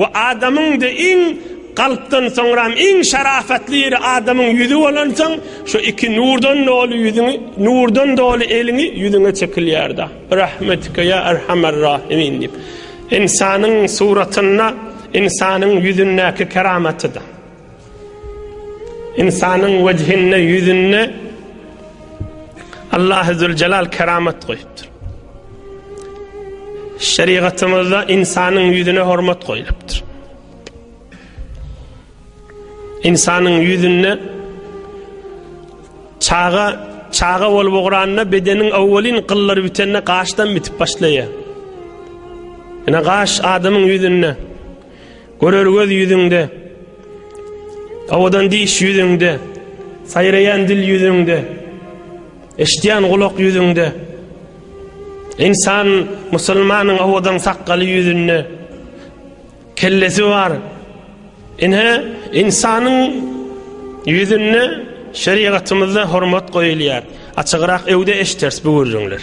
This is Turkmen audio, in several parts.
We adamyň de iň kalpdan soňram iň şarafatly ýeri adamyň ýüzi bolansoň şu iki nurdan doly ýüzüňi nurdan doly eliňi ýüzüňe çekilýärda birahmetike ýa erhamer rahimin diýip ynsanyň suratynda ynsanyň ýüzündäki keramatyda. Ynsanyň wejhinde, ýüzünde Allahy Züljelal keramat goýupdyr. Şerigatymyzda ynsanyň ýüzüne hormat goýlupdyr. Ynsanyň ýüzünde çaga çaga bolup ugranda bedeniň awwalyn gyllary bitende gaşdan bitip başlaýar. Ýa gaş adamyň ýüzünde Görer göz ýüzüňde, awadan diş ýüzüňde, saýraýan dil ýüzüňde, eşidýän gulak ýüzüňde, ynsan musulmanyň awadan sakgaly ýüzünde, kellesi bar. Ine, ynsanyň ýüzünde şerigatymyzda hormat goýulýar. Açygrak öwde eşiders bu gürrüňler.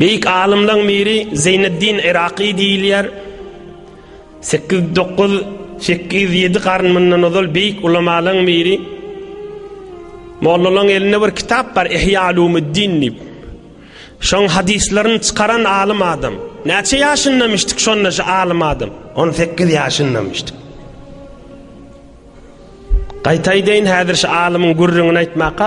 Beýik alymlaň biri Zeýneddin Iraky diýilýär. 8-9 8-7 garyn mundan ozal beýik ulamalaň biri. Mollalaň elinde bir kitap bar Ihya Ulumuddin diýip. Şoň hadyslaryny çykaran alym adam. Näçe ýaşyndamışdyk şonda şu alym adam? 18 ýaşyndamışdyk. Gaýtaýdaýyn häzir şu alymyň gürrüňini aýtmaka.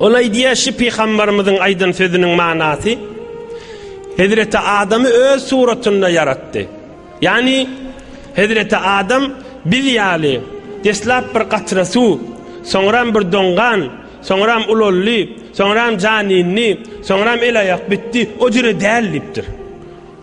Ol aýdýar, Şu pygambarymyzyň aýdan sözüniň manasy, Hezreti Adamy öz suratynda ýaratdy. Ýagny, Hezreti Adam biz ýaly deslap bir gatra suw, soňram bir doňgan, soňram ulaldy, soňram jan indi, soňram el-aýak bitdi, o jüre däl diýipdir.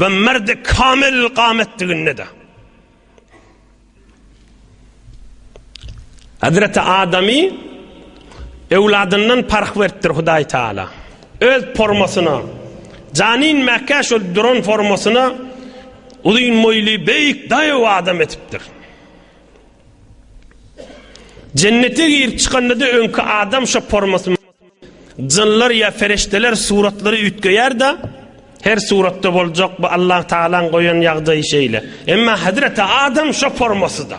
we merdi kamil gametdiginde-de Hazreti Adamy öwladyndan parh beripdir Hudaý Taala. Öz formasyna, janin mäkä şol duran formasyna uzyn boýly beýik daýaw adam etipdir. Jennete girip çykanda-da öňki adam şo formasyny Jynlar ýa perişdeler suratlary üýtgeýär-de, her suratda boljak bu Allah Tagalaň goýan ýagdaýy şeýle. Emma Hazreti Adam şo formasyda.